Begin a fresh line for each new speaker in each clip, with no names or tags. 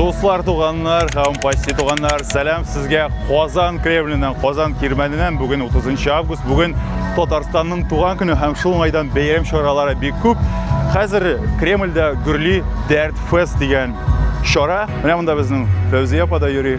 Дуслар, туганнар, һәм почти туганнар, сәлам сезгә Казан Кремленнән, Казан Кирмәненнән. Бүген 30 август, бүген Татарстанның туган көне һәм шул уңайдан бәйрәм чаралары бик күп. Хәзер Кремльдә гөрли Дәрт фест дигән чара. Менә монда безнең Фәүзия апа да йөри.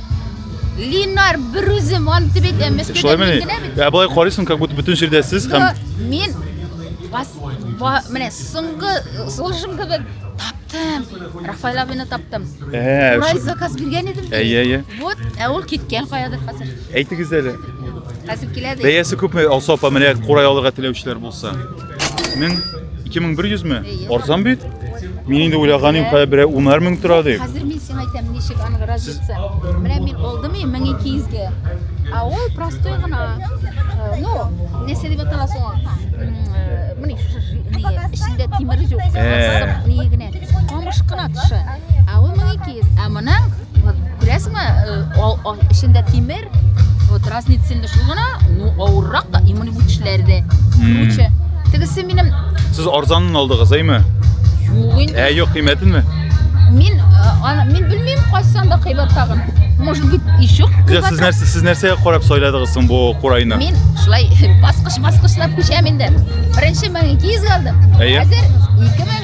Линар
берүзем аны дип әйтә, Мәскәүдә мин генә
бит. Ә болай карыйсың, как будто бөтен җирдә сез һәм мин
бас менә соңгы сулышым кебек таптым. Рафаэль абыны таптым. Ә, Урай заказ биргән идем. Әйе, әйе. Вот, ә ул киткән каядыр хәзер. Әйтегез әле.
Хәзер килә
ди. Бәясе күпме, Алсу апа, менә
курай алырга теләүчеләр булса? Мең, ике мең бер йөз ме? Арзан бит. Мин инде уйлаган идем, кая берәр унар мең тора дип. Хәзер мин сиңа әйтәм,
ничек аның разница. Менә мин алдым и 1200-гә. А ул простой гына. Э, ну, нәрсә дип атала соң ул? Менә эчендә тимер юк. Э. Ни генә. Камыш кына тышы. А ул 1200. Ә моның күрәсеңме? Э, эчендә тимер вот разный цельный шул гына ну авыррак та именно бу тешләре дә круче тегесе минем сез арзанын
алдыгыз әйме юк инде ә юк кыйммәтенме мин
аны мин белмим кайсысын да кыйбат тагын может быть еще кыйбат сез нәрсә сез нәрсәгә карап
сайладыгыз соң бу курайны мин шулай
баскыч баскычлап күчәм инде беренче мең ике йөзгә алдым хәзер ике мең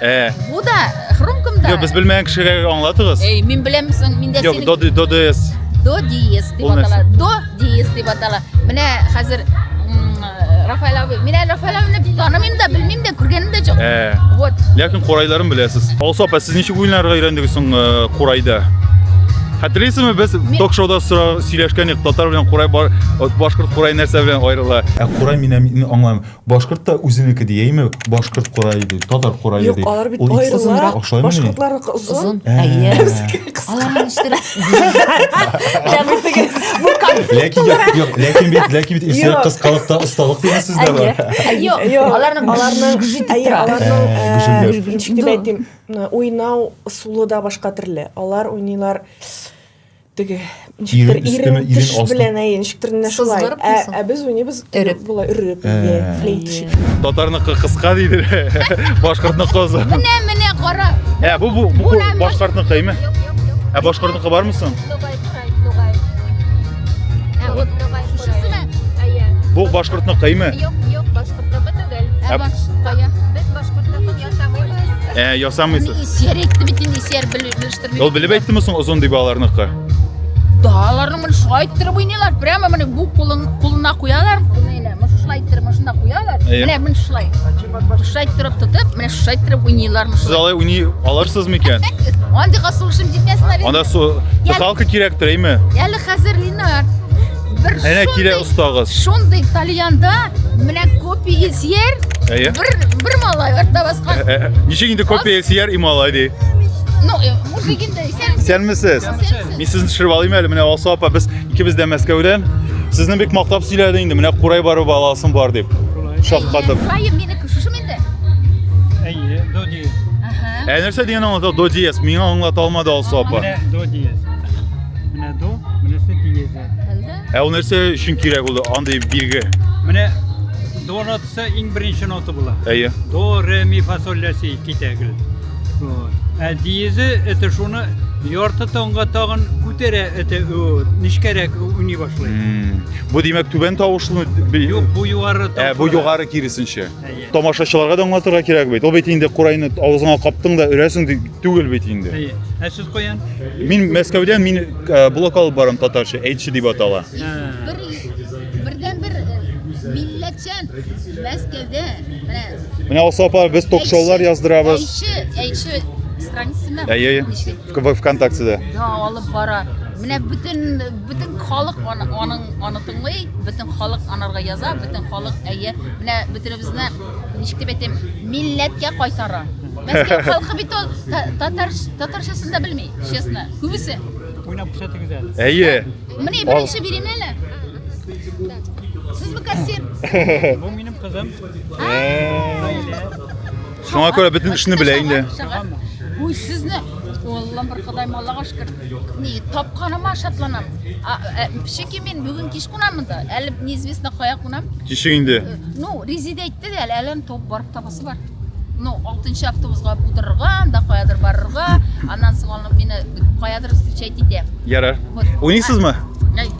Э. Бу да хрумком да. Юк, без белмәгән кешегә
аңлатыгыз. Эй, мин беләм соң,
миндә Юк, до до диез. До диез
дип
атала. До диез дип атала. Менә хәзер Рафаэль абый. Мин әле Рафаэль абыйны танымыйм да, белмим дә, күргәнем дә юк. Э. Вот. Ләкин курайларын
беләсез. Алсу апа, сез ничек уеннарга өйрәндегез соң э, курайда? Хәтерлисезме, без ток-шоуда сөйләшкән идек, татар белән курай башкорт курай нәрсә белән аерыла. Ә курай мин аңламыйм. Башкорт та үзенеке ди, әйме? Башкорт курае ди, татар курае Юк, ди. алар бит Ул аерыла. озынрак.
Ошаймыни? Башкортларныкы озын. Озын. Ә. Әйе.
Аларны ништәп Бу конфликт. Ләкин
юк, юк, ләкин бит, ләкин бит исә Юк. кыскалыкта осталык дигән сүз дә бар. Әйе. Юк, Юк, аларны
аларның гүжит дип әйе, тора. аларның
Ә, э, гүжелдәп. ничек дип әйтим, э, уйнау ысулы да башка төрле. Алар уйныйлар теге ничектер ирен төш белән әйе ничектер менә шулай ә без уйныйбыз өреп болай өреп флейта шикелле татарныкы
кыска дейді башкортныкы озын менә менә кара
ә бу бу бу
башкортныкы әйме ә башкортныкы бармы соң бу башкортныкы әйме
юк юк
башкортныкы түгел
ә башкортныкы ясамыйбыз ә
ясамыйсыз сер әйтте бит
инде сер Ул белеп әйттеме соң озын
дип аларныкы? Да,
аларның моны шулай иттереп уйныйлар. Прямо менә бу кулын кулына куялар. Менә моны шулай иттереп машина куялар. Менә мин шулай. Шулай иттереп тотып, менә шулай иттереп уйныйлар. Сез алай уйный
аларсыз микән? Андыйга сулышым
җитмәсен әле. Анда су. Халкы
кирәктер, әйме? Әле хәзер Линар.
Бер Әнә
килә шундый- остагыз. Шундый тальянда
менә копия сер, Әйе. бер
бер малай
артта баскан. Ә, ә, Ничек инде копия
сияр и малай ди. Ну, э,
мужик инде исән. Исәнмесез. Исәнмесез.
Мин сезне төшереп алыйм әле. Менә Алсу апа, без икебез дә Мәскәүдән. Сезне бик мактап сөйләде инде. Менә курай барып аласым бар дип. Шаккатып. Кайым минеке шушымы
инде? Әйе,
до диез. Ага. Ә нәрсә
дигән аңлата? До
диез. Миңа аңлата алмады Алсу апа. Менә до диез.
Ә ул нәрсә
өчен
кирәк ул андый билге? Менә
до нотасы иң беренче нота була. Әйе. До, ре,
ми, фа,
соль, ля, си, ки тәгел. Ә диезе это шуны ярты таңга тагын күтәрә это нечкәрәк уйный башлый. Бу димәк
түбән тавышлы? Юк, бу югары
тавышлы. Ә бу югары киресенчә.
Тамашачыларга
да аңлатырга
кирәк бит. Ул бит инде курайны авызыңа каптың да өрәсең дип түгел бит инде. Әйе. Ә сез
каян? Мин Мәскәүдән
мин э, блок алып барам татарча, әйтче дип атала. Бер
бердән бер э, милләтчән Мәскәүдә менә Менә Алсу апа,
без ток-шоулар яздырабыз. Әйше, әйше
страницасында. Әйе, әйе.
Кубок ВКонтактеда. Да, алып
бара. Менә бөтен бөтен халык аның аны тыңлый, бөтен халык анарга яза, бөтен халык әйе. Менә бөтенебезне ничек дип әйтәм, милләткә кайтара. Мәскәү халкы бит ул татар татарчасын да белми, честно. Күбесе. Уйнап күрсәтегез
әле. Әйе. Менә
беренче
биремле әле. Сез бу кассир. Бу минем
кызым.
Шуңа күрә бөтен эшне белә инде. Уй,
сезне Аллам бер Ходай маллага шөкер. Ни тапканыма шатланам. Шики мин бүген кич кунам монда. Әле неизвестно кая кунам. Кичек инде. Э,
ну, резиде
әйтте дә, әле әлем топ барып табасы бар. Ну, 6 автобусга утырырга, анда каядыр барырга, аннан соң алып мине каядыр встречать итә. Ярар.
Уйныйсызмы?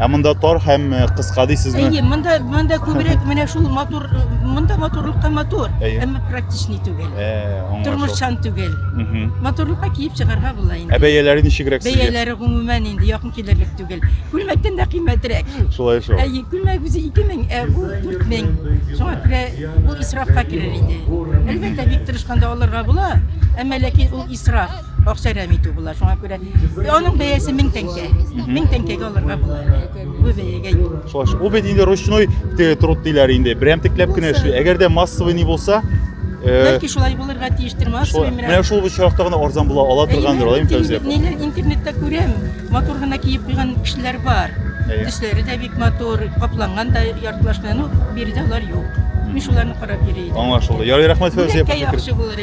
Ә монда
тар һәм э, кыска дисезме? Әйе, монда монда
күбрәк менә шул матур монда матурлыкка матур, Әйе. әмма практичный
түгел.
Э, аңлашылды. Тормышчан
түгел.
Мгм. Матурлыкка киеп чыгарга була Ә инде. бәяләре ничегрәк
сезгә? Бәяләре гомумән инде
якын килерлек түгел. Күлмәктән дә кыйммәтрәк. Шулай шул. Әйе,
күлмәк үзе
2000, ә бу 4000. Шуңа күрә бу исрафка керер иде. Әлбәттә, бик тырышканда алырга була, әмма ләкин ул исраф. Акча рәми итү була, шуңа күрә аның бәясе 1000 тәңкә. 1000 тәңкәгә алырга була. Бу бәягә юк. Шулай. Ул бит инде
ручной труд диләр инде. Берәм текләп кенә эшли. Әгәр дә массовый ни булса, э, Бәлки шулай
булырга тиештер, массовый менә. Менә шул очракта гына
арзан була ала торгандыр, алай Фәүзия. Ниләр интернетта күрәм,
матур гына киеп куйган кешеләр бар. Төсләре дә бик матур, капланган да яртылаш белән, ну, биредә алар юк. Мин шуларны карап йөри идем. Аңлашылды. Ярый, рәхмәт
Фәүзия. Яхшы булыр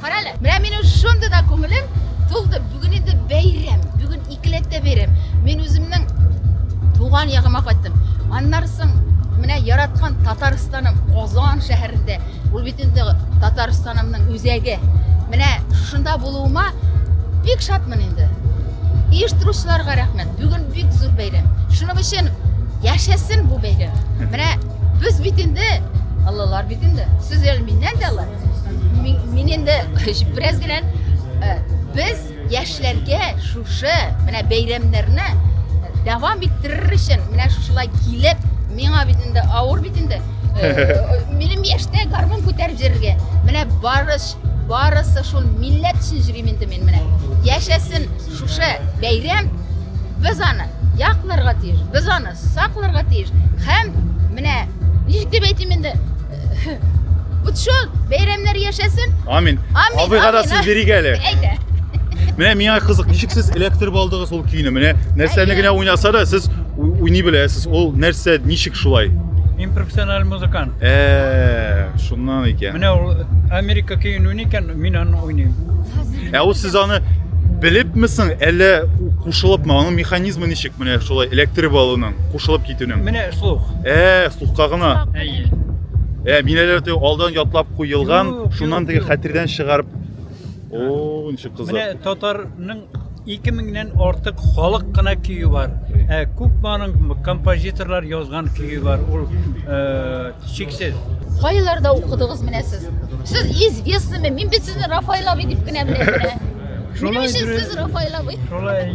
Карале,
менә минем шундый да күңелем тулды. Бүген инде бәйрәм, бүген икеләттә бәйрәм. Мин үземнең туган ягыма кайттым. Аннан соң менә яраткан Татарстаным Казан шәһәрендә. Ул бит инде Татарстанымның үзәге. Менә шунда булуыма бик шатмын инде. Оештыручыларга рәхмәт. Бүген бик зур бәйрәм. Шуның өчен яшәсен бу бәйрәм. Менә без бит инде Аллалар бит инде. Сез әле миннән дә алла. Мин инде бераз генә э, без яшьләргә шушы менә бәйрәмнәрне дәвам иттерер өчен менә шушылай килеп миңа бит инде авыр бит инде э, минем яшьтә гармун күтәреп йөрергә менә барыш барысы шул милләт өчен йөрим инде мин менә яшәсен шушы бәйрәм без аны якларга тиеш без аны сакларга тиеш һәм менә ничек дип әйтим инде Вот шо, бәйрәмнәр яшәсен. Амин. Амин. Абыйга
да сүз бирик әле. Әйтә.
Менә миңа
кызык, ничек сез электр алдыгыз ул көйне? Менә нәрсәне генә уйнаса да сез уйный беләсез. Ул нәрсә, ничек шулай? Мин профессиональ
музыкант. Э,
шуннан икән. Менә ул
Америка көен уйный икән, мин аны уйныйм. Ә ул сез
аны белепме соң, әллә кушылыпмы? Аның механизмы ничек? Менә шулай электр балының кушылып китүнең. Менә слух. Ә,
сукка гына.
Әйе.
Ә, минәләр
тә алдан ятлап куелган, шуннан теге хәтердән чыгарып. О, ничек кызык. Менә татарның
2 меңнән артык халык кына көе бар. Ә күпманың композиторлар язган көе бар. Ул э, чиксез. Кайларда
укыдыгыз менә сез? Сез известныйме? Мин бит сезне Рафаэль абый дип кенә беләм. Шулай Минем өчен сез Рафаэль абый. Шулай.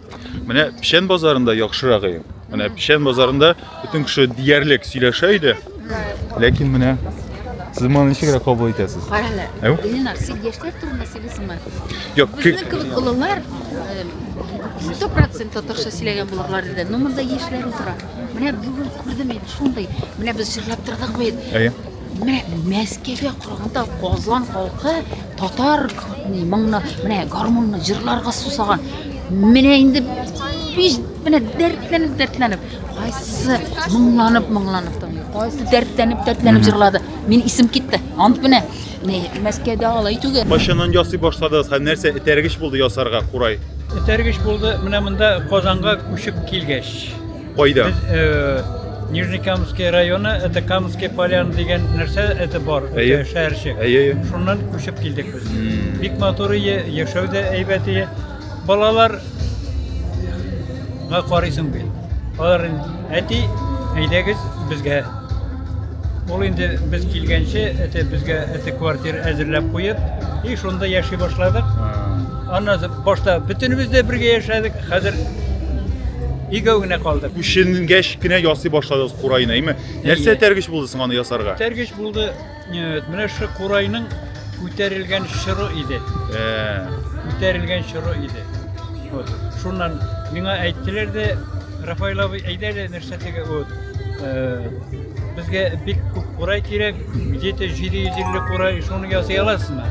Менә Печән базарында яхшырак иде. Менә Печән базарында бөтен кеше диярлек сөйләшә иде. Ләкин менә сез моны ничегрәк кабул итәсез? Карале. Әу? Ленар,
син яшьләр турында сөйлисеңме? Юк, Безнең
кебек олылар
100% татарча сөйләгән булырлар иде. Но монда яшьләр утыра. Менә бүген күрдем мин шундый. Менә без җырлап тордык бит. Әйе. Менә Мәскәүгә караганда Казан халкы татар ни моңны, менә гармунны җырларга сусаган. Менә инде биш менә дәртләнеп дәртләнеп, кайсысы моңланып моңланып тыңлый, кайсы дәртләнеп дәртләнеп җырлады. Мин исем китте. Ант менә не Мәскәүдә алай түгел. Кайчаннан ясый башладыгыз
һәм нәрсә этәргеч булды ясарга курай? Этәргеч булды
менә монда Казанга күчеп килгәч. Кайда? Без э, Нижний Камский районы, это Камский полян дигән нәрсә, это бар, Әйе. это шәһәрчек. Әйе, әйе. Шуннан күчеп килдек без. Бик матур ие, яшәү дә әйбәт ие. Балалар га карыйсың бит. Алар инде, әти, әйдәгез безгә. Ул инде без килгәнче, это безгә это квартира әзерләп куеп, и шунда яши башладык. Аннан башта бөтенебез дә бергә яшәдек. Хәзер игәү генә калды. Күченгәч кенә
ясый башладыгыз курайны, әйме? Нәрсә тәргеш булды соң аны ясарга? Тәргеш булды,
э, менә шул курайның күтәрелгән чоры иде. Э. Күтәрелгән чоры иде. Вот. Шуннан миңа әйттеләр дә, Рафаил абый, әйдә әле нәрсә теге, вот, э, безгә бик күп курай кирәк, 700-750 курай, шуны ясый аласызмы?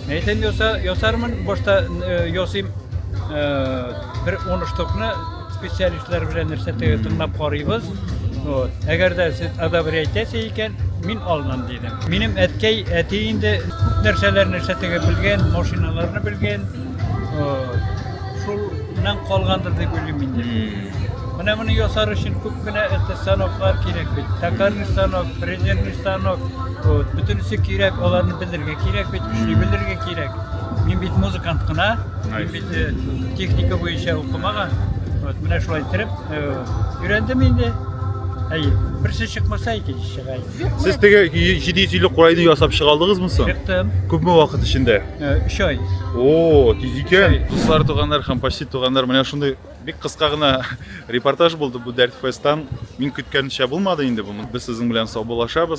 Әйтәм яса, ясармын, башта ясыйм бер оныштыкны специалистлар белән нәрсә тыңлап карыйбыз. Вот. Әгәр дә сез одобрять итәсе икән, мин алынам дидем. Минем әткәй, әти инде күп нәрсәләрне нәрсә тегеп белгән, машиналарны белгән. Шулнан калгандыр дип уйлыйм инде. Менә моны ясар өчен күп кенә станоклар кирәк бит. Токарный станок, фрезерный станок, Вот, бөтенесе кирәк, аларны белергә кирәк бит, эшли белергә кирәк. Мин бит музыкант кына, мин бит э, техника буенча укымаган. Вот, менә шулай иттереп, э, өйрәндем инде. Әйе, берсе чыкмаса икенче чыга. инде. Сез теге
750 курайны ясап чыга алдыгызмы соң? Чыктым, Күпме вакыт
эчендә?
э, өч ай.
О, тиз
икән. Дуслар, туганнар һәм почти туганнар, менә шундый бик кыска гына репортаж булды бу Дәрт Фесттан. Мин көткәнчә булмады инде бу. Без сезнең белән саубуллашабыз.